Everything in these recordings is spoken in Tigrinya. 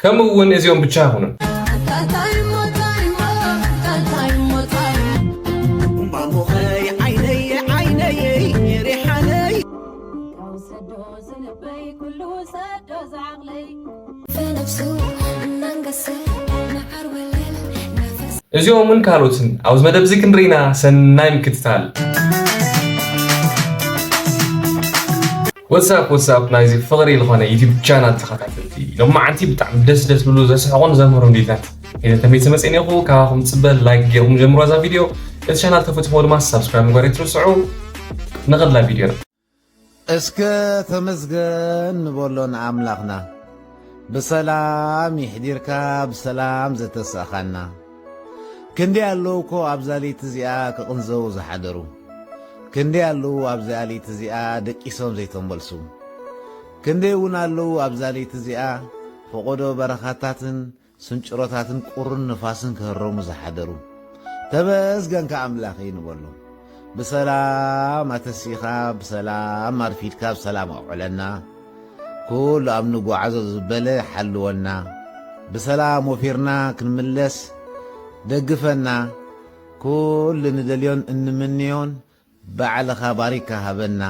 ከምኡ እውን እዚኦም ብቻ ኣይኹኑን። እዚኦምን ካልኦትን ኣብዚ መደብ እዚ ክንርኢና ሰናይ ምክትታል። ወትስ ኣፕ ወትስ ኣፕ ናይዚ ፍቅሪ ልኾነ ዩቲብ ቻናል ተኸታተልቲ ሎማዓንቲ ብጣዕሚ ደስ ደስ ዝብሉ ዘስሕቑን ዘምህሩን ቪድዮታት ሒዘ ተመይሰ መጽ ኔኹ ካባኹም ጽበ ላይክ ጌርኩም ጀምሮ እዛ ቪድዮ እቲ ቻናል ተፈትሕዎ ድማ ሳብስክራይብ ምግባር ኣይትርስዑ ንኸድላ ቪድዮና እስከ ተመስገን ንበሎ ንኣምላኽና ብሰላም ይሕዲርካ ብሰላም ዘተሳእኻና ክንደይ ኣለዉ እኮ ኣብዛ ለይቲ እዚኣ ክቕንዘዉ ዝሓደሩ፣ ክንደይ ኣለዉ ኣብዚኣ ለይቲ እዚኣ ደቂሶም ዘይተመልሱ፣ ክንደይ እውን ኣለዉ ኣብዛ ለይቲ እዚኣ ፈቖዶ በረኻታትን ስንጭሮታትን ቁርን ንፋስን ክህረሙ ዝሓደሩ። ተመስገንካ ኣምላኸይ ንበሎ። ብሰላም ኣተሲኻ ብሰላም ኣርፊድካ ብሰላም ኣውዕለና ኩሉ ኣብ ንጓዓዞ ዝበለ ሓልወና ብሰላም ወፊርና ክንምለስ ደግፈና ኩሉ ንደልዮን እንምንዮን ባዕልኻ ባሪካ ሃበና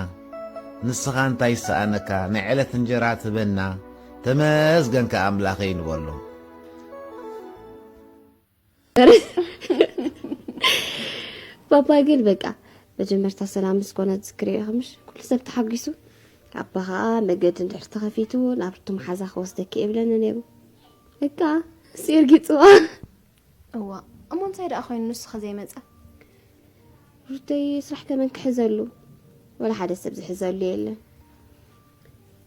ንስኻ እንታይ ይሰኣነካ ናይ ዕለት እንጀራ ትበና ተመስገንካ ኣምላኸይ ንበሎ ባባ ግን በቃ መጀመርታ ሰላም ምስ ኮነ ዝክሪ ከምሽ ኩሉ ሰብ ተሓጒሱ ኣባ ከዓ መገዲ እንድሕር ተኸፊቱ ናብቲ መሓዛ ክወስደኪ የብለኒ ነይሩ በቃ እሱ እርጊፅዋ እዋ እሞ እንታይ ደኣ ኮይኑ ንሱ ከዘይመፀ ሩተይ ስራሕ ከመን ክሕዘሉ ወላ ሓደ ሰብ ዝሕዘሉ የለን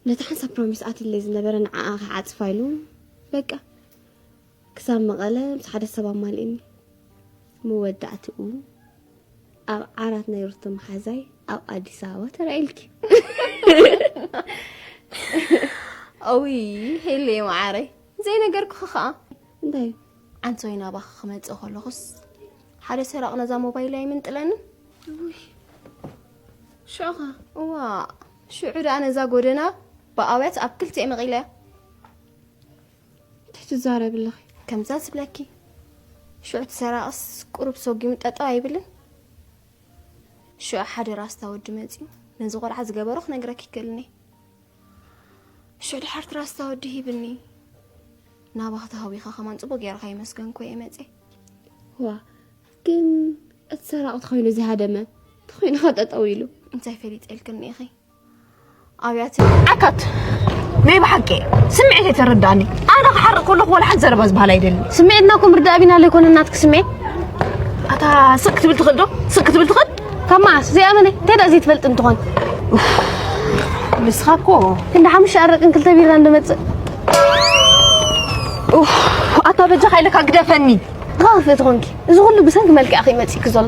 ነቲ ሓንሳብ ፕሮሚስ ኣትለይ ዝነበረ ንዓኣ ክዓፅፋ ኢሉ በቃ ክሳብ መቐለ ምስ ሓደ ሰብ ኣማሊእኒ። መወዳእትኡ ኣብ ዓራት ናይ ሩቶ መሓዛይ ኣብ ኣዲስ ኣበባ ተራኢልኪ። እውይ ሄለየ መዓረይ ዘይነገርኩኺ ከዓ እንታይ ዓንሶይ ናባኺ ክመፅእ ከለኹስ ሓደ ሰራቕ ነዛ ሞባይል ኣይምንጥለኒ ሽዑኻ እዋ ሽዑ ደኣ ነዛ ጎደና ብኣውያት ኣብ ክልቲኤ መቒለያ እንታይ ትዛረብ ኣለኺ? ከምዛ ዝብለኪ ሽዑ እቲ ሰራቕስ ቁሩብ ሰጒሙ ጠጠው ኣይብልን? ሽዑ ሓደ ራስታ ወዲ መፂኡ ነዚ ቆልዓ ዝገበሮ ክነግረኪ ይክእልኒ ሽዑ ድሓርቲ ራስታ ወዲ ሂብኒ ናባኺ ተሃዊኸ ከማን ፅቡቅ ገይርካ ይመስገንኮ እየ መፀ ዋ ግን እቲ ሰራቕ ተኮይኑ ዝሃደመ ተኮይኑ ከጠጠው ኢሉ እንታይ ፈሊጠልክኒ ኢኺ ኣብያተ ዓካት ናይ ብሓቂ ስምዒት የተረዳኒ ኣነ ክሓርቅ ከለኹ ወላ ሓንቲ ዘረባ ዝበሃል ኣይደልን ስምዒትና እኮ ምርዳእ ቢና ለይኮነ ናትክ ስምዒት ኣታ ስቅ ክትብል ትኽእል ዶ ስቅ ክትብል ትኽእል ካብ መዓስ ዘይኣመነ እንታይ ደኣ ዘይትፈልጥ እንትኾን ንስኻ እኮ ክንዲ ሓሙሽተ ኣረቅን ክልተ ቢራ እንደመፅእ ኣታ በጃኻ ኢለካ ግደፈኒ ኻኽፍ እቲ ኮንኪ እዚ ኩሉ ብሰንኪ መልክዕኺ መፂእኪ ዘሎ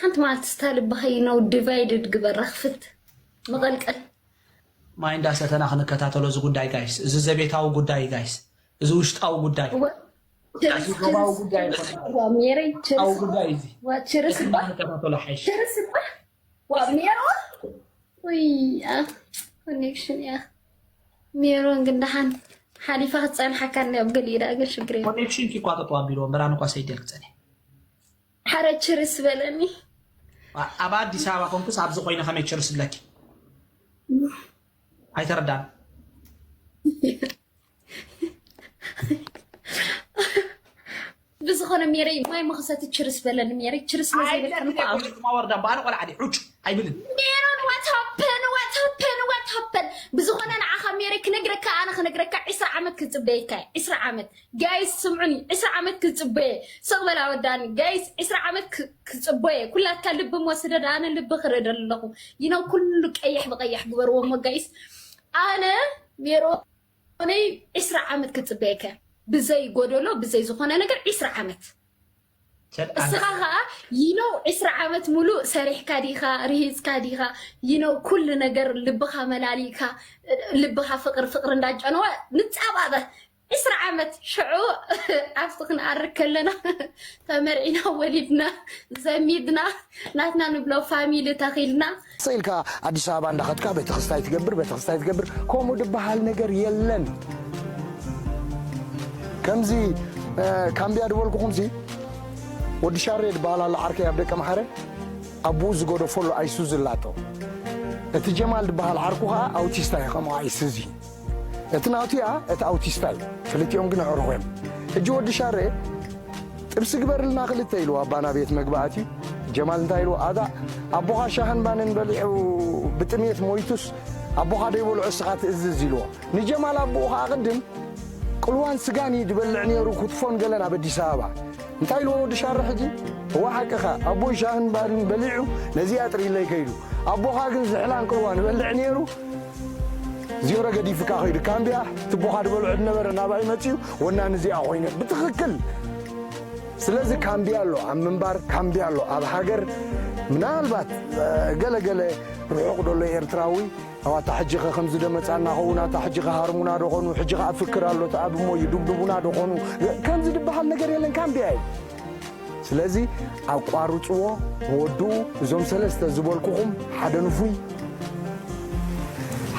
ሓንቲ መዓልቲ ስታ ልብኻ you know divided ግበራ ክፍት መቐልቀል። ማይ እንዳ ሰተና ክንከታተሎ እዚ ጉዳይ ጋይስ እዚ ዘቤታዊ ጉዳይ እዩ ጋይስ እዚ ውሽጣዊ ጉዳይ እወ ችርስ እዚ ዶባዊ ችርስ ጉዳይ ችርስ ኣይኮነን ጋይስ ዋብ ሜረይ ውሽጣዊ ችርስ ጉዳይ እዩ እዚ ዋ ችርስ እዚ እባ እንዳንከታተሎ ሓይሽ ችርስ እባ ዋብ ሜሮን ውይ ያ ኮኔክሽን ያ ሜሮን ግን ደሓን ሓሊፋ ክትፀንሓካ እኒኣ ኣብ ገሊኡ ደኣ ግን ሽግር የለን ኮኔክሽን ኪ እኳ ጠጠው ኣቢልዎ እምበር ኣነ እኳ ሰይደል ክፀንሕ ሓረ ችርስ በለኒ። ኣብ ኣዲስ ኣበባ ኮንኩስ ኣብዚ ኮይነ ከመይ ችርስ ብለኪ? ኣይተረዳን። ብዝኾነ ሜረይ ማይ መኸሰቲ ችርስ በለኒ ሜረይ ችርስ መዘይበልክን እኮ ኣብ ኣይደማ ወርዳ እምባ ኣነ ቆልዓ ድየ ዑጭ ኣይብልን ሜሮን ዋት ሃፐን ዋት ሃፐን ዋት ሃፐን ብዝኾነ ንዓኻ ሜረይ ክነግረካ ኣነ ክነግረካ ዕስራ ዓመት ክፅበየካ እየ ዕስራ ዓመት ጋይስ ስምዑኒ ዕስራ ዓመት ክጽበየ ስቅ በል ኣወዳኒ ጋይስ ዕስራ ዓመት ክጽበየ ኩላትካ ልቢ እሞ ስደድ ኣነ ልቢ ክርኢ ደለኹ ይነው ኩሉ ቀይሕ ብቀይሕ ግበርዎ እሞ ጋይስ ኣነ ሜሮ ነይ ዕስራ ዓመት ክጽበየከ ብዘይ ጎደሎ ብዘይ ዝኾነ ነገር ዕስራ ዓመት እስኻ ከዓ ይነው ዕስራ ዓመት ሙሉእ ሰሪሕካ ዲኻ ርሂፅካ ዲኻ ይነው ኩሉ ነገር ልብኻ መላሊእካ ልብኻ ፍቅሪ ፍቅሪ እንዳጨነወ ንፃባበ ዕስራ ዓመት ሽዑ ኣብቲ ክንኣርግ ከለና ተመርዒና ወሊድና ዘሚድና ናትና ንብሎ ፋሚሊ ተኺልና። ስቅ ኢልካ ኣዲስ ኣበባ እንዳኸድካ ቤተክስታይ ትገብር ቤተክስታይ ትገብር ከምኡ ድበሃል ነገር የለን ከምዚ ካምብያ ድበልኩኹምሲ ወዲ ሻሬ ድበሃል ኣሎ ዓርከይ ኣብ ደቀ መሓረ ኣቡኡ ዝገደፈሉ ኣይሱዚ ኣላቶ እቲ ጀማል ድበሃል ዓርኩ ከዓ ኣውቲስታ እዩ ከምኡ ኣይሱዚ እቲ ናቱያ እቲ ኣውቲስታ እዩ ክልቲኦም ግን ኣዕሩኹ እዮም ሕጂ ወዲ ሻሬ ጥብሲ ግበርልና ክልተ ኢሉ ኣባ ናቤት መግቢ ኣትዩ ጀማል እንታይ ኢልዎ ኣታ ኣቦኻ ሻህን ባንን በሊዑ ብጥሜት ሞይቱስ ኣቦኻ ደይበልዑ እስኻ ትእዝዝ ኢልዎ ንጀማል ኣቦኡ ኸዓ ቅድም ቅልዋን ስጋን እዩ ድበልዕ ነይሩ ኩትፎን ገለን ኣብ ኣዲስ ኣበባ እንታይ ኢልዎ ወዲ ሻረ ሕጂ እዋ ሓቅኻ ኣቦይ ሻህን ባርን በሊዑ ነዚኣ ጥሪለይ ከይዱ ኣቦኻ ግን ዝሕላን ቅልዋን ይበልዕ ነይሩ ዜሮ ገዲፍካ ከይዱ ካምቢያ ትቦኻ ድበልዑ ድነበረ ናባይ መፅዩ ወናኒ እዚኣ ኮይነ ብትኽክል ስለዚ ካምቢያ ኣሎ ኣብ ምንባር ካምቢያ ኣሎ ኣብ ሃገር ምናልባት ገለገለ ርሑቕ ዶሎ ኤርትራዊ ኣብ ኣታ ሕጂ ኸ ከምዚ ደመፃና ኸውን ኣታ ሕጂ ኸ ሃርሙና ዶኾኑ ሕጂ ኸ ኣፍክር ኣሎ ተኣብሞ እዩ ዱብዱቡና ዶኾኑ ከምዚ ድበሃል ነገር የለን ካምቢያ እዩ ስለዚ ኣቋርጽዎ ወድኡ እዞም ሰለስተ ዝበልኩኹም ሓደ ንፉይ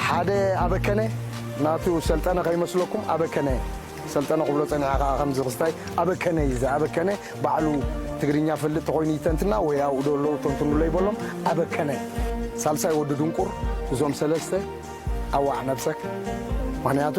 ሓደ ኣበከነ ናቱ ሰልጠነ ከይመስለኩም ኣበከነ ሰልጠነ ክብሎ ጸኒሐ ከዓ ከምዚ ክስታይ ኣበከነ እዩ ኣበከነ ባዕሉ ትግርኛ ፈልጥ ተኮይኑ ይተንትና ወይ ኣብኡ ዶ ኣለዉ ተንትኑሎ ይበሎም ኣበከነ ሳልሳይ ወዲ ድንቁር እዞም ሰለስተ ኣዋዕ ነብሰክ ምክንያቱ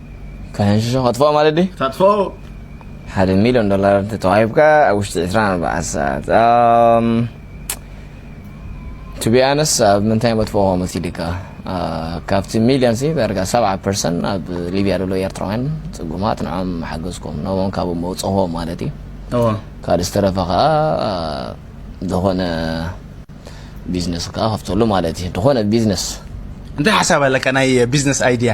ከሕንሽሾ ከጥፍኦ ማለት ድዩ? ተጥፍኦ። ሓደ ሚልዮን ዶላር እንተ ተዋሂብካ ኣብ ውሽጢ ዕስራን ኣርባዓን ሰዓት ቱ ቢ ኣነስ ኣብ ምንታይ መጥፍኦ ከ መሲድካ ካብቲ ሚልዮን ሲ ዳርጋ ሰብዓ ፐርሰን ኣብ ሊብያ ዘሎ ኤርትራውያን ጽጉማት ንዖም ሓገዝኩም ነቦም ካብኡ መውጽኹዎ ማለት እዩ እዎ ካልእ ዝተረፈ ከዓ ዝኾነ ቢዝነስ ከዓ ከፍተሉ ማለት እዩ ዝኾነ ቢዝነስ እንታይ ሓሳብ ኣለካ ናይ ቢዝነስ ኣይድያ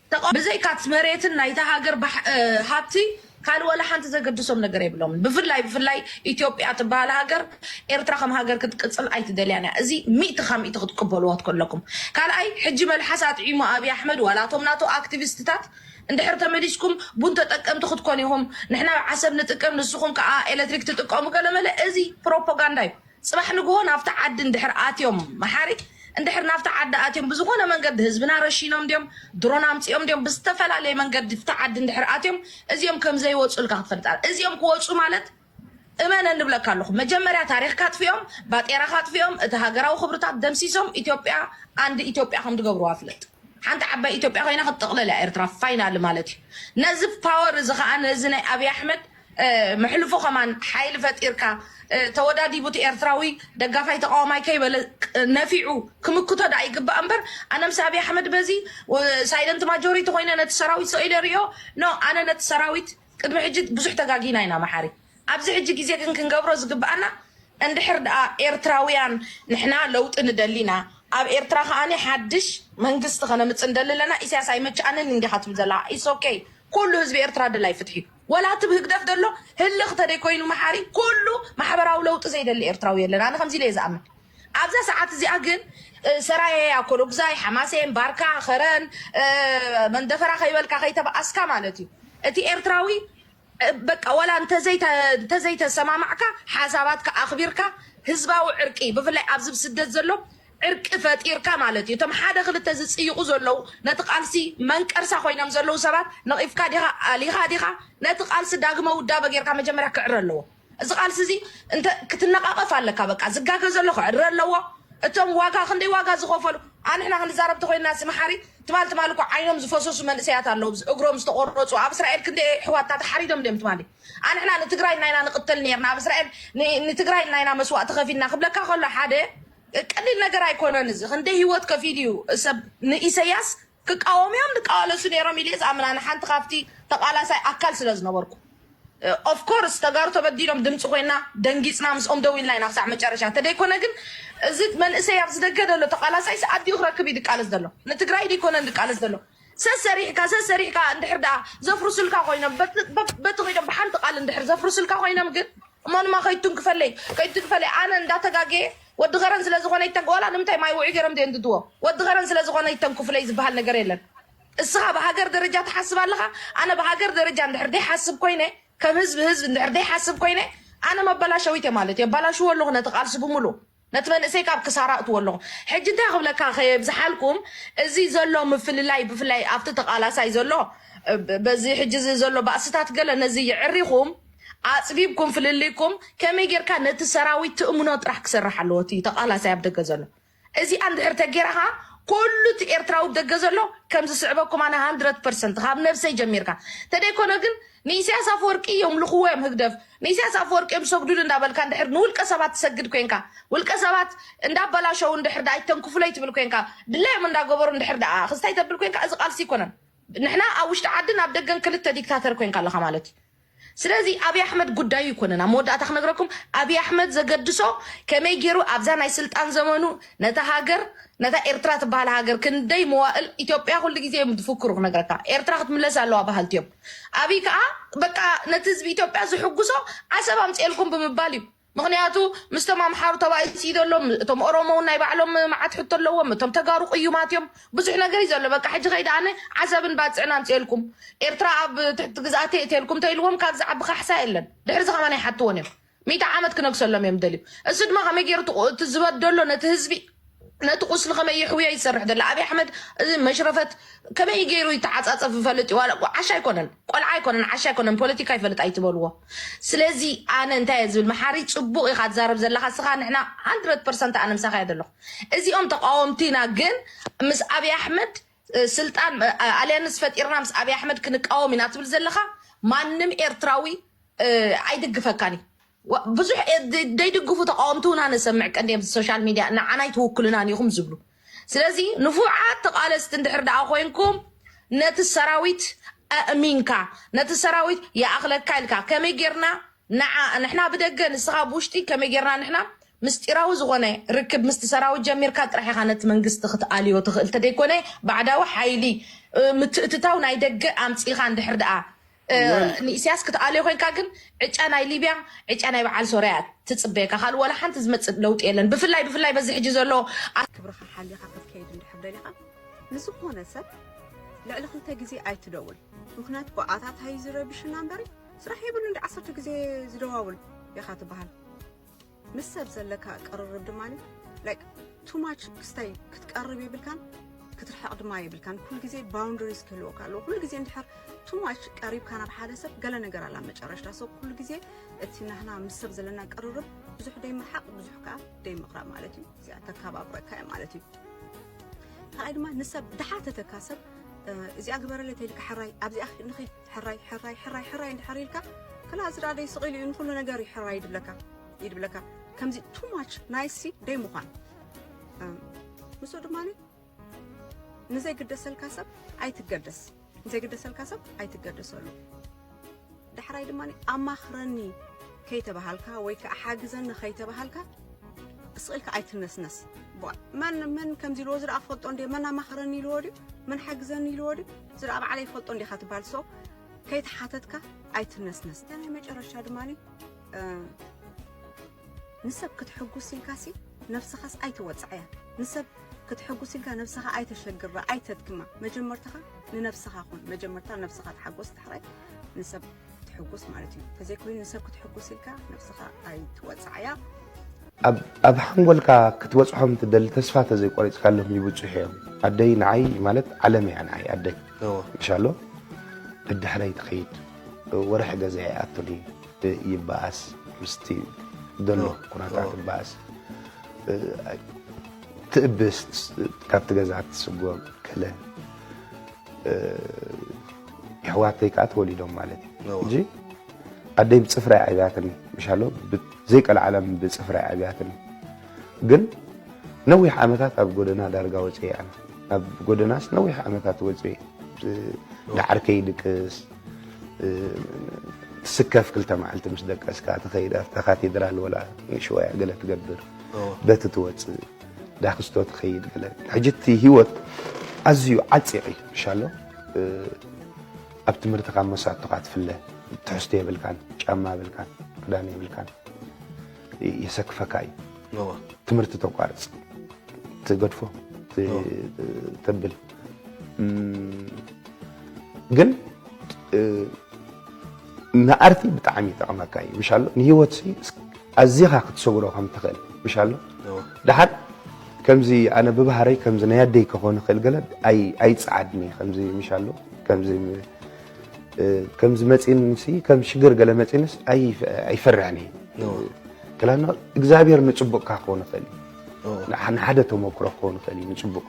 ተቃወምቲ ብዘይካ'ቲ መሬትን ናይታ ሃገር ሃብቲ ካልእ ዋላ ሓንቲ ዘገድሶም ነገር የብሎምን። ብፍላይ ብፍላይ ኢትዮጵያ ትበሃል ሃገር ኤርትራ ከም ሃገር ክትቅጽል ኣይትደልያን እያ። እዚ ሚእቲ ካብ ሚእቲ ክትቅበልዎ ከለኩም። ካልኣይ ሕጂ መልሓስ ኣጥዒሙ ኣቢይ ኣሕመድ ዋላ እቶም ናቱ ኣክቲቪስትታት እንድሕር ተመሊስኩም ቡን ተጠቀምቲ ክትኮኑ ኢኹም፣ ንሕና ዓሰብ ንጥቀም ንስኹም ከኣ ኤለትሪክ ትጥቀሙ ገለመለ እዚ ፕሮፖጋንዳ እዩ። ፅባሕ ንግሆ ናብቲ ዓዲ እንድሕር ኣትዮም መሓሪ እንድሕር ናብቲ ዓዲ ኣትዮም ብዝኾነ መንገዲ ህዝብና ረሺኖም ድዮም ድሮን ኣምፂኦም ድዮም ብዝተፈላለየ መንገዲ ፍቲ ዓዲ እንድሕር ኣትዮም እዚኦም ከምዘይወፁልካ ክትፈልጣ እዚኦም ክወፁ ማለት እመነ ንብለካ ኣለኹ መጀመርያ ታሪኽካ ኣጥፊኦም ባጤራኻ ኣጥፊኦም እቲ ሃገራዊ ክብርታት ደምሲሶም ኢትዮጵያ ኣንድ ኢትዮጵያ ከም ዝገብርዋ ፍለጥ ሓንቲ ዓባይ ኢትዮጵያ ኮይና ክትጥቕለል እያ ኤርትራ ፋይናል ማለት እዩ ነዚ ፓወር እዚ ከዓ ነዚ ናይ ኣብዪ ኣሕመድ መሕልፎ ከማን ሓይሊ ፈጢርካ ተወዳዲቡ እቲ ኤርትራዊ ደጋፋይ ተቃዋማይ ከይበለ ነፊዑ ክምክቶ ደኣ ይግባእ እምበር ኣነ ምስ ኣብይ ኣሕመድ በዚ ሳይለንት ማጆሪቲ ኮይነ ነቲ ሰራዊት ሰኢለ ሪኦ ኖ ኣነ ነቲ ሰራዊት ቅድሚ ሕጂ ብዙሕ ተጋጊና ኢና መሓሪ ኣብዚ ሕጂ ግዜ ግን ክንገብሮ ዝግብኣና እንድሕር ደኣ ኤርትራውያን ንሕና ለውጢ ንደሊ ኢና ኣብ ኤርትራ ከኣኒ ሓድሽ መንግስቲ ከነምጽ ንደሊ ኣለና ኢሳያስ ኣይመቸኣንን እንዲኻ ትብል ዘለኻ ኢትስ ኦኬ ኩሉ ህዝቢ ኤርትራ ደላይ ፍትሒ እዩ ወላ እቲ ብ ህግደፍ ዘሎ ህልኽ ተደይ ኮይኑ መሓሪ ኩሉ ማሕበራዊ ለውጢ ዘይደሊ ኤርትራዊ የለን ኣነ ከምዚ ኢለ እየ ዝኣምን ኣብዛ ሰዓት እዚኣ ግን ሰራየ ኣኮሎጉዛይ ሓማሴን ባርካ ከረን መንደፈራ ከይበልካ ከይተበኣስካ ማለት እዩ እቲ ኤርትራዊ በቃ ወላ እንተዘይተሰማማዕካ ሓሳባትካ ኣኽቢርካ ህዝባዊ ዕርቂ ብፍላይ ኣብዚ ብስደት ዘሎ ዕርቂ ፈጢርካ ማለት እዩ። እቶም ሓደ ክልተ ዝጽይቑ ዘለዉ ነቲ ቃልሲ መንቀርሳ ኮይኖም ዘለዉ ሰባት ነቒፍካ ዲኻ ኣሊኻ ዲኻ ነቲ ቃልሲ ዳግመ ውዳበ ጌርካ መጀመርያ ክዕረ ኣለዎ። እዚ ቃልሲ እዚ እንተ ክትነቓቐፍ ኣለካ በቃ ዝጋገ ዘሎ ክዕረ ኣለዎ። እቶም ዋጋ ክንደይ ዋጋ ዝኸፈሉ ኣንሕና ክንዛረብ ተኾይንና ሲ መሓሪ ትማል ትማል እኮ ዓይኖም ዝፈሰሱ መንእሰያት ኣለዉ እግሮም ዝተቖረጹ ኣብ እስራኤል ክንደይ ኣሕዋትና ተሓሪዶም ድዮም ትማሊ ኣንሕና ንትግራይ ናይና ንቕተል ኔርና ኣብ እስራኤል ንትግራይ ናይና መስዋእቲ ከፊልና ክብለካ ከሎ ሓደ ቀሊል ነገር ኣይኮነን እዚ ክንደይ ሂወት ከፊሉ እዩ ሰብ ንኢሰያስ ክቃወሙ እዮም ዝቃዋለሱ ነይሮም ኢለ ዝኣምን ኣነ ሓንቲ ካብቲ ተቃላሳይ ኣካል ስለ ዝነበርኩ ኦፍ ኮርስ ተጋሩ ተበዲሎም ድምፂ ኮይና ደንጊፅና ምስኦም ደው ኢልና ኢና ክሳዕ መጨረሻ እንተደይኮነ ግን እዚ መንእሰይ ኣብዚ ደገ ዘሎ ተቃላሳይሲ ኣዲኡ ክረክብ እዩ ዝቃለስ ዘሎ ንትግራይ ደይኮነን ዝቃለስ ዘሎ ሰሰሪሕካ ሰሰሪሕካ እንድሕር ደኣ ዘፍርሱልካ ኮይኖም በቲ ኮይኖም ብሓንቲ ቃል እንድሕር ዘፍርሱልካ ኮይኖም ግን እሞ ድማ ከይትንክፈለይ ከይትንክፈለይ ኣነ እንዳተጋገየ ወዲ ከረን ስለ ዝኾነ ይተንክ ዋላ ንምንታይ ማይ ውዑይ ገይሮም ዘየንድድዎ ወዲ ከረን ስለ ዝኾነ ይተንክፍለይ ዝበሃል ነገር የለን እስኻ ብሃገር ደረጃ ትሓስብ ኣለኻ ኣነ ብሃገር ደረጃ እንድሕር ዘይሓስብ ኮይነ ከም ህዝቢ ህዝቢ እንድሕር ዘይሓስብ ኮይነ ኣነ መበላሸዊት እየ ማለት እዩ ኣባላሽዎ ኣለኹ ነቲ ቃልሲ ብምሉእ ነቲ መንእሰይ ካብ ክሳራ ኣእትዎ ኣለኹ። ሕጂ እንታይ ክብለካ ከየብዝሓልኩም እዚ ዘሎ ምፍልላይ ብፍላይ ኣብቲ ተቃላሳይ ዘሎ በዚ ሕጂ እዚ ዘሎ ባእስታት ገለ ነዚ የዕሪኹም ኣጽቢብኩም ፍልልይኩም ከመይ ጌርካ ነቲ ሰራዊት ትእምኖ ጥራሕ ክሰርሕ ኣለዎ እቲ ተቃላሳይ ኣብ ደገ ዘሎ እዚኣ እንድሕር ተጌርኻ ኩሉ እቲ ኤርትራዊ ብ ደገ ዘሎ ከም ዝስዕበኩም ኣነ ሃንድረድ ፐርሰንት ካብ ነብሰይ ጀሚርካ ተደይኮነ ግን ንኢሰያስ ኣፈወርቂ የምልኽዎ እዮም ህግደፍ ንኢሰያስ ኣፈወርቂ እዮም ዝሰግዱሉ እንዳበልካ እንድሕር ንውልቀ ሰባት ትሰግድ ኮንካ ውልቀ ሰባት እንዳበላሸው እንድሕር ደኣ ኣይተንክፉለይ ትብል ኮንካ ድላዮም እንዳገበሩ እንድሕር ደኣ ክስታይ ተብል ኮንካ እዚ ቃልሲ ኣይኮነን ንሕና ኣብ ውሽጢ ዓድን ኣብ ደገን ክልተ ዲክታተር ኮንካ ኣለኻ ማለት እዩ ስለዚ ኣብይ ኣሕመድ ጉዳዩ ይኮነን ኣብ መወዳእታ ክነግረኩም ኣብይ ኣሕመድ ዘገድሶ ከመይ ገይሩ ኣብዛ ናይ ስልጣን ዘመኑ ነታ ሃገር ነታ ኤርትራ ትበሃል ሃገር ክንደይ መዋእል ኢትዮጵያ ኩሉ ግዜ እዮም ዝፍክሩ ክነግረካ ኤርትራ ክትምለስ ኣለዋ በሃልቲ እዮም ኣብይ ከዓ በቃ ነቲ ህዝቢ ኢትዮጵያ ዝሕጉሶ ዓሰብ ኣምፅኤልኩም ብምባል እዩ። ምክንያቱ ምስቶም ኣምሓሩ ተባኢሱ እዩ ዘሎ፣ እቶም ኦሮሞ እውን ናይ ባዕሎም መዓት ሕቶ ኣለዎም፣ እቶም ተጋሩ ቅዩማት እዮም፣ ብዙሕ ነገር እዩ ዘሎ። በቃ ሕጂ ከይዲ ኣነ ዓሰብን ባፅዕን ኣምፅኤልኩም፣ ኤርትራ ኣብ ትሕቲ ግዝኣተይ እተልኩም ተኢልዎም ካብዚ ዝዓቢ ካሕሳ የለን። ድሕሪ እዚ ከማን ኣይሓትዎን እዮም። ሚእቲ ዓመት ክነግሰሎም እዮም ደልዩ እዚ ድማ ከመይ ገይሩ እቲ ቁ- እቲ ዝበደሎ ነቲ ህዝቢ ነቲ ቁስሊ ከመይ ይሕውዮ እዩ ዝሰርሕ ዘሎ ኣብይ ኣሕመድ እዚ መሽረፈት ከመይ ገይሩ ይተዓፃፀፍ ይፈልጥ እዩ ዋላ እኮ ዓሻ ኣይኮነን ቆልዓ ኣይኮነን ዓሻ ኣይኮነን ፖለቲካ ይፈልጥ ኣይትበልዎ ስለዚ ኣነ እንታይ እየ ዝብል መሓሪ ፅቡቅ ኢካ ትዛረብ ዘለካ ስካ ንሕና 100 ፐርሰንት ኣነ ምሳካ እየ ዘለኩ እዚኦም ተቃወምቲና ግን ምስ ኣብይ ኣሕመድ ስልጣን ኣልያንስ ፈጢርና ምስ ኣብይ ኣሕመድ ክንቃወም ኢና ትብል ዘለኻ ማንም ኤርትራዊ ኣይድግፈካን እዩ ብዙሕ ዘይድግፉ ተቃወምቲ እውን ኣነሰምዕ ቀንዲ ኣብዚ ሶሻል ሚድያ ንዓና ኣይትውክሉናን ኢኹም ዝብሉ ስለዚ ንፉዓት ተቃለስቲ እንድሕር ደኣ ኮንኩም ነቲ ሰራዊት ኣእሚንካ ነቲ ሰራዊት ይኣኽለካ ኢልካ ከመይ ጌርና ንዓ ንሕና ብደገ ንስኻ ብውሽጢ ከመይ ጌርና ንሕና ምስጢራዊ ዝኾነ ርክብ ምስቲ ሰራዊት ጀሚርካ ጥራሕ ኢኻ ነቲ መንግስቲ ክትኣልዮ ትኽእል ተደይኮነ ባዕዳዊ ሓይሊ ምትእትታው ናይ ደገ ኣምጺኻ እንድሕር ደኣ ወል ንኢስያስ ክትኣልዮ ኮንካ ግን ዕጫ ናይ ሊብያ ዕጫ ናይ በዓል ሶርያ እያ ትጽበየካ ካልእ ዋላ ሓንቲ ዝመጽእ ለውጢ የለን ብፍላይ ብፍላይ በዚ ሕጂ ዘሎ ክብርኻ ሓሊኻ ክትከይድ እንድሕር ደሊኻ ንዝኾነ ሰብ ልዕሊ ክልተ ግዜ ኣይትደውል ምኽንያቱ ብኣታታዩ ዝረብሽና እምበሪ ስራሕ የብሉን ዳዓሰርተ ግዜ ዝደዋውል ኢኻ ትበሃል። ምስ ሰብ ዘለካ ቅርርብ ድማ ላይክ ቱ ማች ክስታይ ክትቀርብ የብልካን ክትርሕቕ ድማ የብልካን ኩሉ ግዜ ባውንደሪስ ክህልወካ ኣለዎ ኩሉ ግዜ እንድሕር ቱ ማች ቀሪብካ ናብ ሓደ ሰብ ገለ ነገር ኣላ መጨረሽታ ሰብ ኩሉ ግዜ እቲ ናህና ምስ ሰብ ዘለና ቅርርብ ብዙሕ ደይምርሓቕ ብዙሕ ከዓ ደይምቕራብ ማለት እዩ እዚኣ ተከባብረካ እያ ማለት እዩ ካልኣይ ድማ ንሰብ ድሓተተካ ሰብ እዚኣ ግበረለይ ተይልካ ሕራይ ኣብዚኣ ንኸይድ ሕራይ ሕራይ ሕራይ ሕራይ እንድሕር ኢልካ ክላ እዚ ደኣ ደይ ስቕ ኢሉ እዩ ንኹሉ ነገር እዩ ሕራይ ድብለካ እዩ ድብለካ ከምዚ ቱ ማች ናይሲ ደይ ምዃን ምስኡ ድማ ንዘይግደሰልካ ሰብ ኣይትገደስ ንዘይግደሰልካ ሰብ ኣይትገደሰሉ ዳሕራይ ድማ ኣማኽረኒ ከይተባሃልካ ወይ ከዓ ሓግዘኒ ከይተባሃልካ ስቕኢልካ ኣይትነስነስ መን መን ከምዚ ኢልዎ እዚ ደኣ ክፈልጦ እንደ መን ኣማኽረኒ ኢልዎ ድዩ መን ሓግዘኒ ኢልዎ ድዩ ስድራ ባዕለይ ይፈልጦ እንዲኻ ትባል ሶ ከይተሓተትካ ኣይትነስነስ እታ ናይ መጨረሻ ድማ ንሰብ ክትሕጉስ ኢልካ ሲ ነብስኻስ ኣይትወፅዕያ ንሰብ ክትሕጉስ ኢልካ ነብስኻ ኣይተሸግራ ኣይተድክማ መጀመርታኻ ንነብስኻ ኹን መጀመርታ ነብስኻ ተሓጎስ ዳሕራይ ንሰብ ትሕጉስ ማለት እዩ ተዘይኮይኑ ንሰብ ክትሕጉስ ኢልካ ነብስኻ ኣይትወፅዓያ ኣብ ሓንጎልካ ክትበፅሖም ትደሊ ተስፋ ተዘይቆሪፅካሎም ይብፅሑ እዮም ኣደይ ንዓይ ማለት ዓለም እያ ንዓይ ኣደይ እንሻሎ ብድሕረይ ትኸይድ ወርሒ ገዛ ይኣቱኒ ይበኣስ ምስቲ ደሎ ኩነታት ይበኣስ ትእብስ ካብቲ ገዛ ትስጎም ከለ የሕዋተይ ከዓ ተወሊዶም ማለት እዩ እንጂ ኣደይ ብፅፍራ እያ ዓብያትኒ ምሻሎ ዘይቀልዓለም ብፅፍራ እያ ዓብያትኒ ግን ነዊሕ ዓመታት ኣብ ጎደና ዳርጋ ወፅ እያ ኣብ ጎደናስ ነዊሕ ዓመታት ወፅ ዳዓርከይ ድቅስ ትስከፍ ክልተ መዓልቲ ምስ ደቀስካ ትኸይድ ኣብታ ካቴድራል ወላ ንሽዋያ ገለ ትገብር በቲ ትወፅእ ዳክስቶ ትኸይድ ገለ ሕጂ እቲ ሂወት ኣዝዩ ዓጺቕ እዩ ምሻሎ ኣብ ትምህርትኻ መሳቶኻ ትፍለ ትሕዝቶ የብልካን ጫማ የብልካን ክዳን የብልካን የሰክፈካ እዩ ትምህርቲ ተቋርጽ ትገድፎ ተብል ግን ንኣርቲ ብጣዕሚ ይጠቕመካ እዩ ምሻ ኣሎ ንሂወት ኣዚኻ ክትሰግሮ ከም ትኽእል ምሻ ኣሎ ድሓር ከምዚ ኣነ ብባህረይ ከምዚ ናይ ኣደይ ክኾን ይኽእል ገለ ኣይፀዓድኒ ከምዚ ምሻ ኣሎ ከምዚ ከምዚ መፂንሲ ከም ሽግር ገለ መፂንስ ኣይፈርሕን እዩ ክላና እግዚኣብሔር ንፅቡቕካ ክኾን ይኽእል እዩ ንሓደ ተሞክሮ ክኸውን ይኽእል እዩ ንፅቡቅ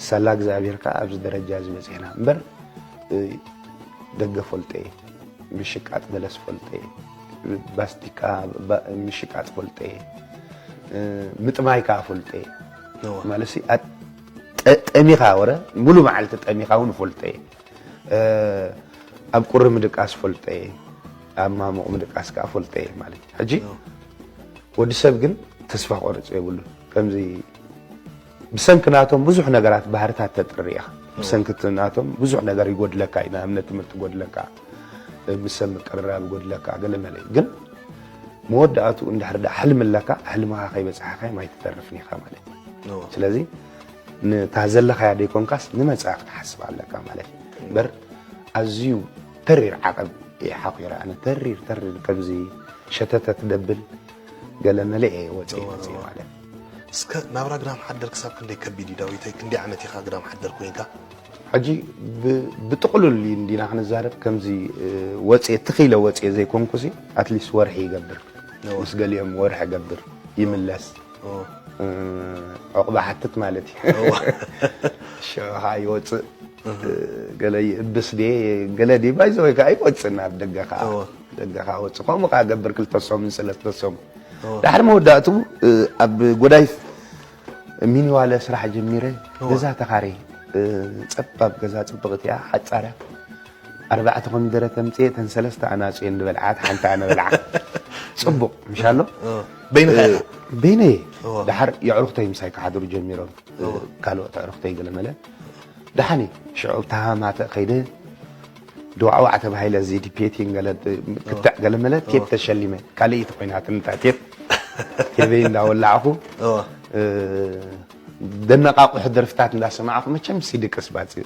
ሳላ እግዚኣብሔር ከዓ ኣብዚ ደረጃ እዚ በፂሕና እምበር ደገ ፈልጠ እየ ምሽቃጥ በለስ ፈልጠ እየ ባስቲካ ምሽቃጥ ፈልጠ እየ ምጥማይ ከዓ ፈልጠ እየ ማለት ጠሚኻ ወረ ሙሉ መዓልቲ ጠሚኻ እውን ፈልጠ እየ ኣብ ቁሪ ምድቃስ እፈልጦ እየ ኣብ ማሙቕ ምድቃስ ከዓ እፈልጦ እየ ማለት እዩ ሕጂ ወዲ ሰብ ግን ተስፋ ቆርፅ የብሉ ከምዚ ብሰንኪ ናቶም ብዙሕ ነገራት ባህርታት ተጥሪ ኢኻ ብሰንኪ ናቶም ብዙሕ ነገር ይጎድለካ እዩ ንኣብነት ትምህርቲ ጎድለካ ምስ ሰብ ምቅርራብ ይጎድለካ ገለ መለ እዩ ግን መወዳእትኡ እንድሕር ዳ ሕልሚ ኣለካ ሕልምኻ ከይበፅሓካ ማይ ትተርፍን ኢኻ ማለት እዩ ስለዚ ንታ ዘለኻያ ደይኮንካስ ንመጻኢ ክትሓስብ ኣለካ ማለት እዩ እምበር ኣዝዩ ተሪር ዓቐብ እየ ሓኺረ ኣነ ተሪር ተሪር ከምዚ ሸተተ ትደብል ገለ መለ እየ ወፂ ወፂ ማለት እስከ ናብራ ግዳም ሓደር ክሳብ ክንደይ ከቢድ እዩ ዳዊተይ ክንደይ ዓመት ኢኻ ግዳም ሓደር ኮንካ ሕጂ ብጥቕሉል እንዲና ክንዛረብ ከምዚ ወፅየ ትኽኢለ ወፅየ ዘይኮንኩ ሲ ኣትሊስት ወርሒ ይገብር ምስ ገሊኦም ወርሒ እገብር ይምለስ ዑቕባ ሓትት ማለት እዩ ሽዑ ከዓ ይወፅእ ገለ ይእብስ ድየ ገለ ድየ ባይዘ ወይ ከዓ ይወፅእ ናብ ደገ ከዓ ደገ ከዓ ወፅእ ከምኡ ከዓ ገብር ክልተ ሰሙን ሰለስተ ሰሙን ዳሕሪ መወዳእትኡ ኣብ ጎዳይ ሚኒዋለ ስራሕ ጀሚረ ገዛ ተኻረየ ፀባብ ገዛ ፅብቕቲ እያ ሓፃር እያ ኣርባዕተ ኮሚደረ ተምጽኤ እተን ሰለስተ ኣናጹ እየን ዝበልዓት ሓንቲ ኣነ በልዓ ጽቡቅ ምሽ ኣሎ በይንኻ ኢኻ በይነይ እየ ድሓር የዕሩኽተይ ምሳይ ክሓድሩ ጀሚሮም ካልኦት ኣዕሩኽተይ ገለመለ ደሓን እዩ ሽዑ ተሃማተ ከይደ ድዋዕዋዕ ተባሂለ እዚ ዲፔቲን ገለ ክትዕ ገለ መለ ቴፕ ተሸሊመ ካልእ እዩ ተኮይናትን እታ ቴፕ ቴበይ እንዳወላዕኹ ደነቃቁሑ ደርፍታት እንዳሰማዕኹ መቸም ሲዲ ቅስባፅ እዩ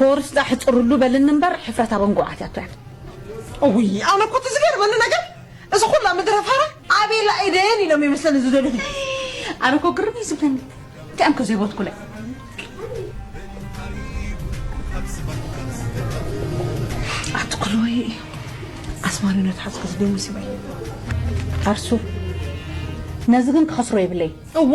ኮርስዳ ሕጽርሉ በልኒ እምበር ሕፍረት ኣብ እንጉዓት ያቶ ያት። እውይ ኣነ እኮ እቲ ዝገርመኒ ነገር እዚ ኩላ ምድረ ፋራ ኣቤላ ኤደን ኢሎም ይመስለኒ ዝደልዩ ኣነ እኮ ግርም እዩ ዝብለኒ እንታይ እኮ ዘይቦትኩለ ኣትኩሎይ ኣስማሪኖ ትሓዝኩ ዝብል ሙሲባ እዩ ኣርሱ ነዚ ግን ክኸስሮ የብለይ እዋ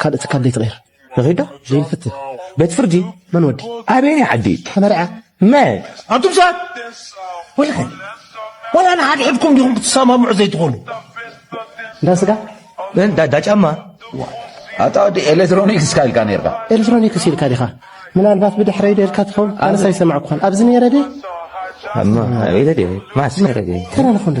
ካልእ ትካል ዘይትቕይር ንኺድ ዶ ዘይንፍትን ቤት ፍርዲ መን ወዲ ኣበየናይ ዓዲ ተመርዐ መን ኣቱም ሰባት ወላን ወላ ንሓድሕድኩም ዲኹም ክትሰማምዑ ዘይትኾኑ እንዳ ስጋ እንዳ ጫማ ኣታ ወዲ ኤሌክትሮኒክስ ካ ኢልካ ነርካ ኤሌክትሮኒክስ ኢልካ ዲኻ ምናልባት ብድሕረይ ዶ ኢልካ ትኸውን ኣነስ ኣይሰማዕኩኻን ኣብዚ ነይረ ደ ኣማ ኣበይለ ደ ማስ ነረ ደ ተራ ንኾን ዶ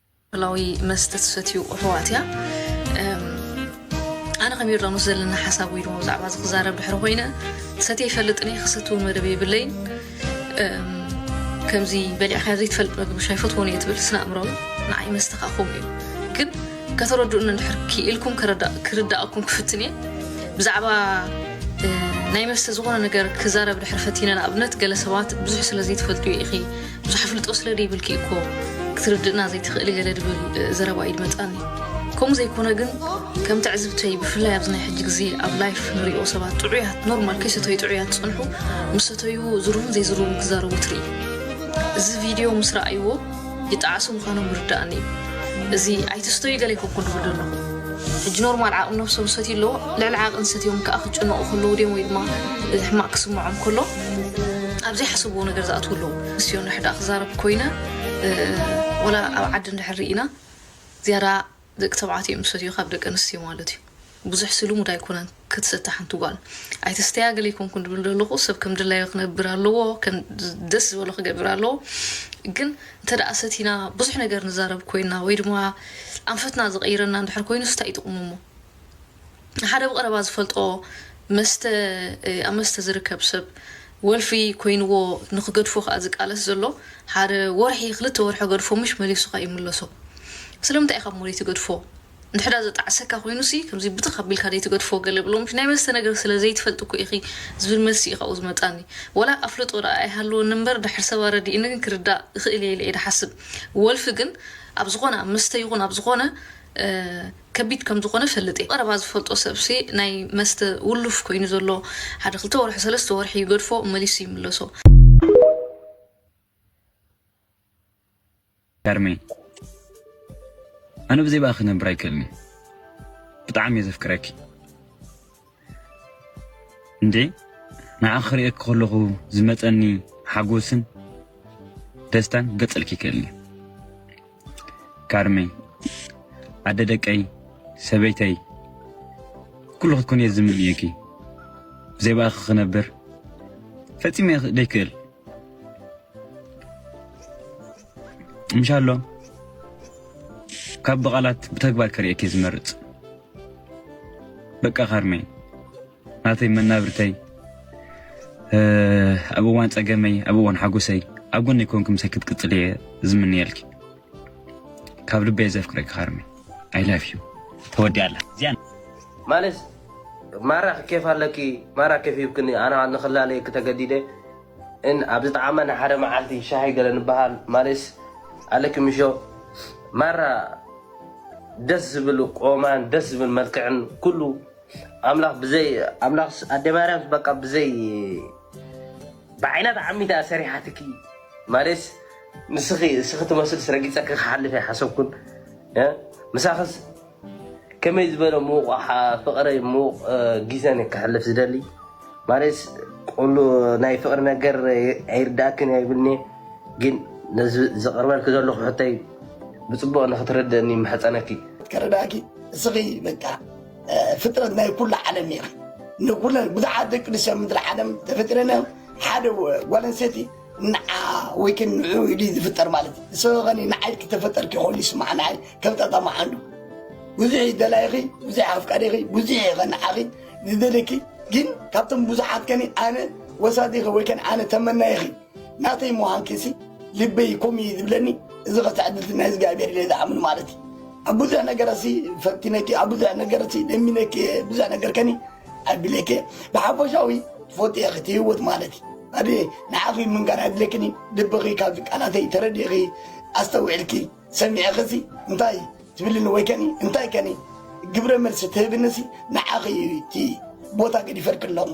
ኣልኮላዊ መስተ ትሰትዩ ኣሕዋት እያ ኣነ ከም ዮርዳኖስ ዘለና ሓሳብ ወይ ድማ ብዛዕባ እዚ ክዛረብ ድሕሪ ኮይነ ሰትየ ይፈልጥን እየ ክሰትው መደብ የብለይን ከምዚ በሊዕካ ዘይትፈልጥ መግቢ ሻይ ፈትዎን እየ ትብል ስነ ኣእምሮዊ ንዓይ መስተ ከዓ ከምኡ እዩ ግን ከተረድኡኒ እንድሕር ክኢልኩም ክርዳእኩም ክፍትን እየ ብዛዕባ ናይ መስተ ዝኾነ ነገር ክዛረብ ድሕር ፈቲነ ንኣብነት ገለ ሰባት ብዙሕ ስለ ዘይትፈልጡ ኢኺ ብዙሕ ኣፍልጦ ስለ ዘይብልኪ እኮ ክትርድእና ዘይትኽእሊ ገለ ድብል ዘረባ ኢድ መፃኒ ከምኡ ዘይኮነ ግን ከም ትዕዝብተይ ብፍላይ ኣብዚ ናይ ሕጂ ግዜ ኣብ ላይፍ ንሪኦ ሰባት ጥዑያት ኖርማል ከይሰተዩ ጥዑያት ዝፀንሑ ምስ ሰተዩ ዝርቡን ዘይዝርቡን ክዛረቡ ትርኢ እዚ ቪድዮ ምስ ረኣይዎ ይጠዓሱ ምዃኖም ይርዳእኒ እዩ እዚ ኣይትስተዩ ገለ ይከኩን ድብል ዘለኹ ሕጂ ኖርማል ዓቕሚ ነብሶም ሰትዩ ኣለዎ ልዕሊ ዓቕን ሰትዮም ከዓ ክጭነቑ ከለዉ ድዮም ወይ ድማ ሕማቅ ክስምዖም ከሎ ኣብ ዘይሓሰብዎ ነገር ዝኣትዉ ኣለዉ ንስዮ ንሕዳ ክዛረብ ኮይነ ወላ ኣብ ዓዲ እንድሕር ርኢና ዝያዳ ደቂ ተባዕትዮ እዮም ዝሰትዩ ካብ ደቂ ኣንስትዮ ማለት እዩ ብዙሕ ስልሙድ ኣይኮነን ክትሰተ ሓንቲ ጓል ኣይትስተያ ገለ ይኮንኩን ድብል ዘለኹ ሰብ ከም ድላዮ ክነብር ኣለዎ ደስ ዝበሎ ክገብር ኣለዎ ግን እንተ ደኣ ሰቲና ብዙሕ ነገር ንዛረብ ኮይና ወይ ድማ ኣንፈትና ዝቐይረና እንድሕር ኮይኑ ስታይ ጥቕሙ እሞ ሓደ ብቐረባ ዝፈልጦ መስተ ኣብ መስተ ዝርከብ ሰብ ወልፊ ኮይንዎ ንክገድፎ ከኣ ዝቃለስ ዘሎ ሓደ ወርሒ ክልተ ወርሒ ገድፎ ምሽ መሊሱ ከኣ ይምለሶ ስለምንታይ ኢኻ እሞ ዘይትገድፎ ንድሕዳ ዘጣዕሰካ ኮይኑሲ ከምዚ ብትኽ ኣቢልካ ዘይትገድፎ ገለ ብሎ ምሽ ናይ መስተ ነገር ስለ ዘይትፈልጥ እኮ ኢኺ ዝብል መልሲ እዩ ካብኡ ዝመጻኒ ወላ ኣፍልጦ ደኣ ኣይሃልወኒ እምበር ድሕር ሰብ ኣረዲእኒ ግን ክርዳእ እኽእል እየ ኢለ እየ ድሓስብ ወልፊ ግን ኣብ ዝኾነ ኣብ መስተ ይኹን ኣብ ዝኾነ ከቢድ ከም ዝኾነ እፈልጥ እየ። ቀረባ ዝፈልጦ ሰብሲ ናይ መስተ ውሉፍ ኮይኑ ዘሎ ሓደ ክልተ ወርሒ ሰለስተ ወርሒ ይገድፎ መሊሱ ይምለሶ። ከርሚ ኣነ ብዘይ ብኣኺ ክነብር ኣይክእልን እየ ብጣዕሚ እየ ዘፍቅረኪ እንዴ ንዓኺ ክርእየኪ ከለኹ ዝመጸኒ ሓጎስን ደስታን ገጽልኪ ይክእልኒ ካርመይ ኣደ ደቀይ ሰበይተይ ኩሉ ክትኮን እየ ዝምንየኪ ብዘይ ብኣኺ ክነብር ፈጺመ ደይክእል እንሻሎ ካብ ብቓላት ብተግባር ከርእየኪ ዝመርፅ በቃ ካርመይ ናተይ መናብርተይ ኣብ እዋን ፀገመይ ኣብ እዋን ሓጎሰይ ኣብ ጎኒ ኮንኩም ምሳይ ክትቅፅል እየ ዝምንየልኪ ካብ ልበየ ዘፍቅረኪ ካርመይ ኣይ ላቭ ዩ ተወዲያ ኣላ እዚኣ ማለት ማራ ኬፍ ኣለኪ ማራ ኬፍ ይብክኒ ኣነ ንክላለየኪ ተገዲደ ን ኣብ ዝጠዓመ ን ሓደ መዓልቲ ሻሂ ገለ ንበሃል ማሌስ ኣለኪ ምሾ ማራ ደስ ዝብል ቆማን ደስ ዝብል መልክዕን ኩሉ ኣምላኽ ብዘይ ኣምላኽ ኣደ ማርያም በቃ ብዘይ ብዓይና ተዓሚታ እያ ሰሪሓትኪ ማሌስ ንስኺ እስኺ ትመስልስ ረጊጸኪ ክሓልፍ ኣይሓሰብኩን ምሳኽስ ከመይ ዝበለ ሙቅ ፍቅረይ ሙቅ ጊዘን ክሕልፍ ዝደሊ ማለትስ ኩሉ ናይ ፍቅሪ ነገር ኣይርዳእክን እያ ይብልኒ ግን ነዚ ዝቅርበልኪ ዘለኩ ሕቶይ ብፅቡቅ ንክትርድእኒ ይምሕፀነኪ። ከረዳኪ እስኺ በቃ ፍጥረት ናይ ኩሉ ዓለም ኢኺ ንኩለን ብዙሓት ደቂ ኣንስትዮ ምድሪ ዓለም ተፈጢረን እዮም ሓደ ጓል ኣንስተይቲ ንዓ ወይ ከን ንዑ ኢሉ ዝፍጠር ማለት እዩ ንሰበ ከኒ ንዓይ ክተፈጠርኪ ከሉ ይስማዕ ንዓይ ከም ጣጣ መዓንዱ ብዙሕ ይደላይኺ ብዙሕ ኣፍቃሪኺ ብዙሕ ይኸ ንዓኺ ዝደለኪ ግን ካብቶም ብዙሓት ከኒ ኣነ ወሳዲኺ ወይ ከን ኣነ ተመናይኺ ናተይ ምዃንኪሲ ልበይ ኮም እዩ ዝብለኒ እዚ ከትዕድልቲ ናይ እግዚኣብሔር ኢለ ዝኣምን ማለት እዩ ኣብ ብዙሕ ነገረሲ ፈቲነኪ ኣብ ብዙሕ ነገረሲ ደሚነኪ ብዙሕ ነገር ከኒ ኣድሌኬ ብሓፈሻዊ ፎቴኺ ትህይወት ማለት ኣድሌ ንዓኺ ምንጋር ኣድሌክኒ ልብኺ ካብዚ ቃላተይ ተረዲኺ ኣስተውዒልኪ ሰሚዕኺሲ እንታይ ትብልኒ ወይ ከኒ እንታይ ከኒ ግብረ መልሲ ትህብንሲ ንዓኺ እዩ እቲ ቦታ ገዲፈልኪ ኣለኹ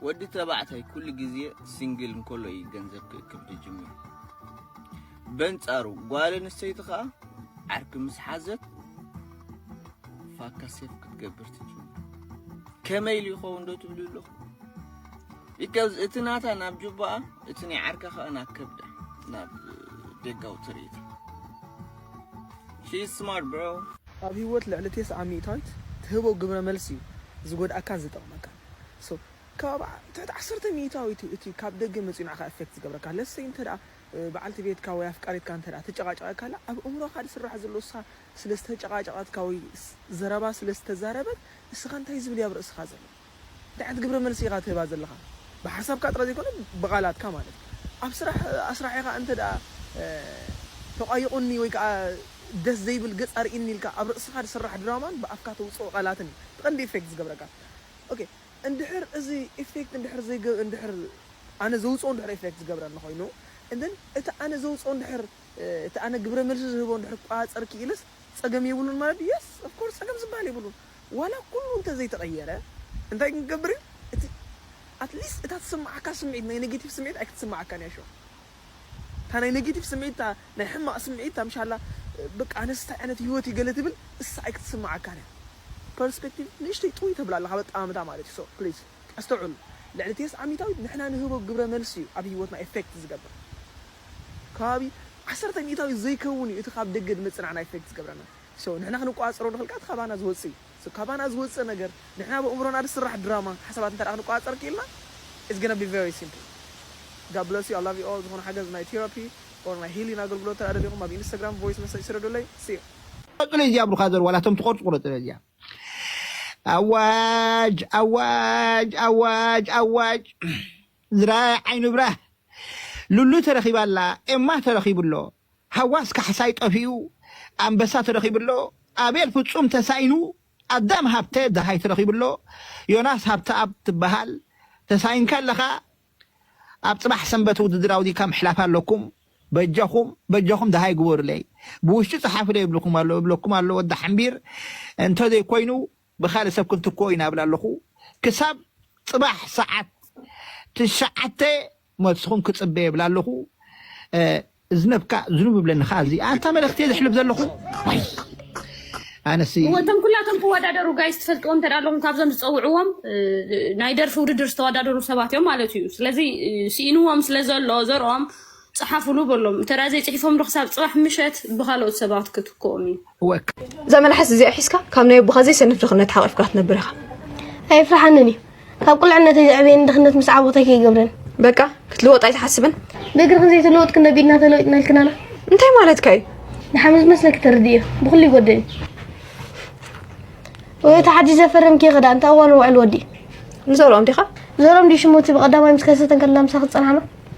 ወዲ ተባዕታይ ኩሉ ግዜ ሲንግል እንከሎ እዩ ገንዘብ ክእክብ ዝጅምር በንጻሩ ጓል ኣንስተይቲ ከኣ ዓርኪ ምስ ሓዘት ፋካ ሴፍ ክትገብር ትጅምር። ከመይ ኢሉ ይኸውን ዶ ትብሉ ኣለኹ? ቢካዝ እቲ ናታ ናብ ጁባኣ እቲ ናይ ዓርካ ከኣ ናብ ከብዳ ናብ ደጋዊ ትርኢት ሺ ስማርት ብሮ ኣብ ህይወት ልዕሊ ቴስዓ ሚእታዊት ትህቦ ግብረ መልሲ እዩ ዝጎድኣካን ዝጠቕመካን so ካብ ትሕቲ ዓሰርተ ሚእታዊት እዩ እቲ ካብ ደገ መጺኡ ንዓኻ effect ዝገብረካ let's say እንተ በዓልቲ ቤትካ ወይ ኣፍቃሪትካ እንተድኣ ተጨቓጪቓካላ ኣብ እእምሮኻ ዝስራሕ ዘሎ ንሳ ስለ ዝተጨቓጨቐትካ ወይ ዘረባ ስለ ዝተዛረበት ንስኻ እንታይ ዝብል እዩ ኣብ ርእስኻ ዘሎ እንታይ ዓይነት ግብረ መልሲ ኢኻ ትህባ ዘለኻ ብሓሳብካ ጥራይ ዘይኮነ ብቓላትካ ማለት እዩ ኣብ ስራሕ ኣስራሒኻ እንተድኣ ተቛይቑኒ ወይ ከኣ ደስ ዘይብል ገጽ ኣርእይኒ ኢልካ ኣብ ርእስኻ ዝስራሕ ድራማን ብኣፍካ ተውጽኦ ቃላትን እዩ እቲ ቀንዲ ኢፌክት ዝገብረካ ኦኬ እንድሕር እዚ ኢፌክት እንድሕር ዘይገ እንድሕር ኣነ ዘውጽኦ እንድሕር ኢፌክት ዝገብረኒ ኮይኑ and then እቲ ኣነ ዘውጽኦ እንድሕር እቲ ኣነ ግብረ መልሲ ዝህቦ እንድሕር ክቆጻጸር ክኢለስ ጸገም የብሉን ማለት ድዩ yes of course ጸገም ዝብሃል የብሉን ዋላ ኩሉ እንተ ዘይተቐየረ እንታይ ግን ክገብር እዩ እቲ at least እታ ትስምዓካ ስምዒት ናይ negative ስምዒት ኣይክትስምዓካን እያ show እታ ናይ ነጊቲቭ ስምዒት እታ ናይ ሕማቅ ስምዒት እታ ምሽ ኣላ በቃ ኣነስ እንታይ ዓይነት ሂወት እዩ ገለ ትብል እሳ ኣይክትስማዓካን እያ ፐርስፐክቲቭ ንእሽተይ ጥውይ ተብላ ኣለካ በጣምታ ማለት እዩ ሶ ፕሊዝ ኣስተውዕሉ ልዕሊ ቴስዓ ሚታዊት ንሕና ንህቦ ግብረ መልሲ እዩ ኣብ ሂወትና ኤፈክት ዝገብር ከባቢ ዓሰርተ ሚታዊት ዘይከውን እዩ እቲ ካብ ደገ ድመጽእ ንዓና ኤፈክት ዝገብረና ሶ ንሕና ክንቋጻጸሮ ንክል ከኣ እቲ ካባና ዝወጽእ እዩ። ካባና ዝወጽእ ነገር ንሕና በእምሮና ዝስራሕ ድራማ ሓሳባት እንተ ክንቆጻጸር ኪኢልና it's gonna be very simple God bless you I love you all ዝኾነ ሓገዝ ናይ Therapy or ናይ Healing ኣገልግሎት እንተ ደሊኹም ኣብ Instagram voice message ስደዱለይ See you። ቀጽሎ ኢዚኣ ብሩኻዘር ዋላ እቶም ትቆርጹ ቁረጽሎ ኢዚኣ ኣዋጅ ኣዋጅ ኣዋጅ ኣዋጅ ዝራኣየ ዓይኑ ብራህ ሉሉ ተረኺባ ኣላ ኤማ ተረኺቡ ኣሎ ሃዋስ ካሕሳይ ጠፊኡ ኣንበሳ ተረኺቡ ኣሎ፣ ኣቤል ፍጹም ተሳኢኑ ኣዳም ሃብተ ደሃይ ተረኺቡ ኣሎ፣ ዮናስ ሃብተኣብ ትበሃል ተሳኢንካ ኣለኻ፣ ኣብ ጽባሕ ሰንበት ውድድር ኣውዲካ ምሕላፍ ኣለኩም፣ በጃኹም በጃኹም ደሃይ ግበሩለይ፣ ብውሽጢ ጽሓፉለይ እብልኩም ኣሎ እብለኩም ኣሎ ወዲ ሓምቢር፣ እንተዘይኮይኑ ብካልእ ሰብ ክንትክኦ ኢና እብል ኣለኹ ክሳብ ጽባሕ ሰዓት ትሽዓተ መልስኹም ክጽበ እብል ኣለኹ እዝነብካ ዝኑብ ይብለኒ ከኣ እዚ ኣንታ መልእኽቲ እየ ዘሕልፍ ዘለኹ ዋይ ኣነሲ እወ እቶም ኩላቶም ክወዳደሩ ጋይስ ትፈልጥዎም እንተ ኣለኹም ካብዞም ዝፀውዕዎም ናይ ደርፊ ውድድር ዝተወዳደሩ ሰባት እዮም ማለት እዩ ስለዚ ስኢንዎም ስለ ዘሎ ዘርኦም ጸሓፉሉ በሎም እንተ ዘይጽሒፎም ዶ ክሳብ ጽባሕ ምሸት ብኻልኦት ሰባት ክትክኦም እዩ። እወ እዛ መልሓስ እዚኣ ሒዝካ ካብ ናይ ኣቦኻ ዘይሰንፍ ድኽነት ሓቒፍካ ክትነብር ኢኻ። ኣየፍርሓንን እዩ ካብ ቁልዕነተይ ዘዕበየኒ ድኽነት ምስ ዓወተይ ከይገብረኒ በቃ ክትልወጥ ኣይትሓስብን ብእግሪ ክንዘይተለወጥ ክንደቢድና ተለዊጥና ኢልክናና እንታይ ማለትካ እዩ ንሓመድ ዝመስለኪ ተርድዮ ብኩሉ ይጎድእኒ ወይ እቲ ሓድሽ ዘፈረምኪ ክዳ እንታይ እዋን ውዕል ወዲ ንዘርኦም ዲኻ ንዘርኦም ዲ ሽሙቲ ብቀዳማይ ምስ ከሰተ ከላ ምሳ ክፀናሕና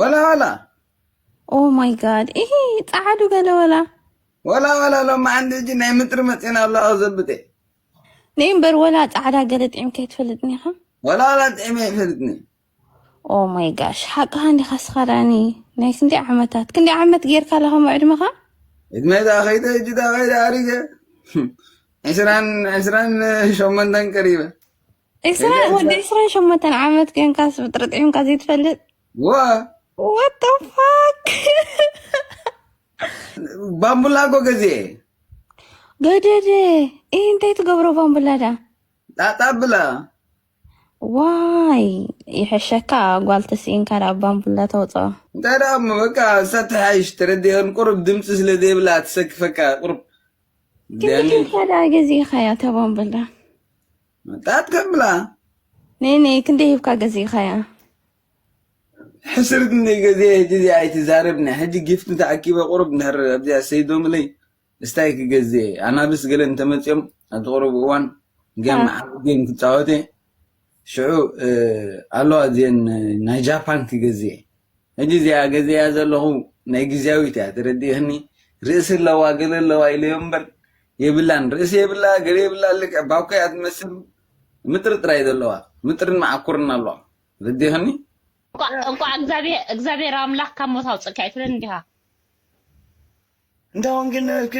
ወላ ወላ ኦ ማይ ጋድ ይሄ ጻዓዱ ገለ ወላ ወላ ወላ ሎማ ዓንዲ እጂ ናይ ምጥሪ መጽና ኣሎ ኣዘብጤ ነይ እምበር ወላ ጻዕዳ ገለ ጥዒምካ ይትፈልጥኒ ኢኻ ወላ ወላ ጥዒመ ይፈልጥኒ ኦ ማይ ጋሽ ሓቅኻ እንዲኻ ስኻዳኒ ናይ ክንደይ ዓመታት ክንደይ ዓመት ጌርካ ኣለኻ ምዕድመኻ እድመ ዳ ከይደ እጂ ዳ ከይደ ኣሪገ ዕስራን ዕስራን ሸሞንተን ቀሪበ ኢስራኤል ወዲ ኢስራኤል ሸሞንተን ዓመት ኮንካስ ብጥርጥዒምካ ዘይትፈልጥ ወ ዋት ዘ ፋክ ባምቡላጎ ገዜ ገደደ ይህ እንታይ ትገብሮ ባምቡላ ዳ ጣጣ ብላ ዋይ ይሕሸካ ጓል ተስኢንካ ዳ ባምቡላ ተውፅኦ እንታይ ደኣ እሞ በቃ ሰተሓይሽ ተረዲአን ቁሩብ ድምፂ ስለ ዘይብላ ትሰክፈካ ቁሩብ ክንዲ ኬንካ ዳ ገዚእኻያ እታ ባምቡላ መጣት ከብላ ኔኔ ክንደይ ሂብካ ገዚእኻያ? ሕስር ክንደይ ገዜ ሕጂ እዚኣ ኣይትዛረብኒ ሕጂ ጊፍቲ ተኣኪበ ቁሩብ እንድሕር ኣብዚኣ ሰይዶምለይ እስታይ ክገዜ ኣናብስ ገለ እንተመፅኦም ኣብዚ ቁሩብ እዋን ገም ዓብ ገም ክፃወተ ሽዑ ኣለዋ እዚአን ናይ ጃፓን ክገዜ ሕጂ እዚኣ ገዚኣ ዘለኹ ናይ ግዝያዊት እያ ተረዲእክኒ ርእሲ ኣለዋ ገለ ኣለዋ ኢለዮ እምበር የብላን ርእሲ የብላ ገለ የብላ ልክዕ ባኮ እያ ትመስል ምጥሪ ጥራይ ዘለዋ ምጥርን መዓኩርን ኣለዋ ረዲእክኒ እንኳዕ እግዚኣብሔር ኣምላክ ካብ ሞት ኣውፅእካ ይፍለን እንዲኻ እንዳ ወንጌል ነበርክ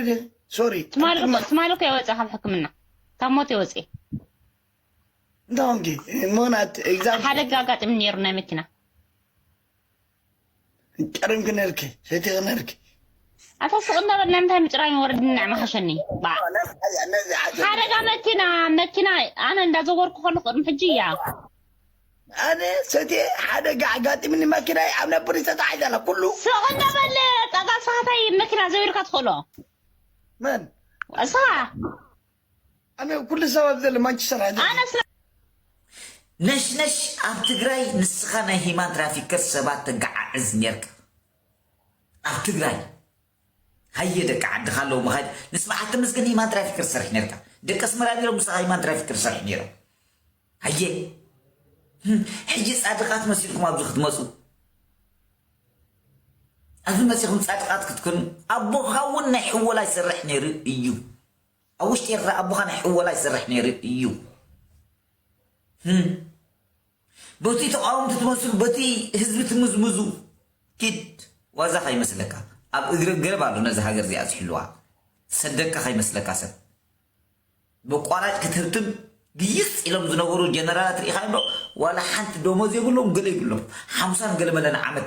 ሶሪ ትማሊ እኮ የወፅእ ካብ ሕክምና ካብ ሞት የወፅእ ዶንኪ ሞናት ኤግዛምፕል ሓደጋ ኣጋጢሙ ነይሩ ናይ መኪና ቀደም ክነልኪ ሰይቲ ክነልኪ ኣታ ሱቅ እናበልና እንታይ ምጭራይ ወረድ ንዕ መሓሸኒ ባዕ ነዚ ሓዘ ሓደጋ መኪና መኪና ኣነ እንዳዘወርኩ ከሉ ቅድሚ ሕጂ እያ ኣነ ሰቲ ሓደጋ ኣጋጢምኒ መኪናይ ኣብ ናይ ፖሊስ ተታሒዛ ኣላ ኩሉ ሱቅ እናበለ ጠጋ ስኻታይ መኪና ዘቢርካ ትኽእሎ መን እስኻ ኣነ ኩሉ ሰብ ኣብዚ ዘሎ ማንቸስተር ሕድሪ ኣነ ድየ። ስራሕ ነሽነሽ ኣብ ትግራይ ንስኻ ናይ ሂማን ትራፊከር ሰባት ተጋዓዕዝ ኔርካ ኣብ ትግራይ ሃየ ደቂ ዓድኻ ኣለዉ መኻይድ ምስ በዓል ተመስገን ሂማን ትራፊከር ትሰርሕ ኔርካ ደቂ ኣስመራ ኔሮም ምሳኻ ሂማን ትራፊከር ትሰርሕ ኔሮም ሃየ ህም፣ ሕጂ ጻድቓት መሲልኩም ኣብዚ ክትመጹ ኣብዚ መጺኹም ጻድቓት ክትኮኑ ኣቦኻ እውን ናይ ሕወላ ይሰርሕ ኔሩ እዩ ኣብ ውሽጢ ኤርትራ ኣቦኻ ናይ ሕወላ ይሰርሕ ነይሩ እዩ ህም በቱይ ተቃወምቲ ትመስሉ በቱይ ህዝቢ ትምዝምዙ ኪድ ዋዛ ከይመስለካ ኣብ እግሪ ገረብ ኣሎ ነዚ ሃገር እዚኣ ዝሕልዋ ሰደቃ ከይመስለካ ሰብ በቋራጭ ክትህብትም ግይጽ ኢሎም ዝነበሩ ጀነራላት ርኢኻ ዶ ዋላ ሓንቲ ደሞዝ የብሎም ገለ ይብሎም ሓምሳን ገለመለን ዓመት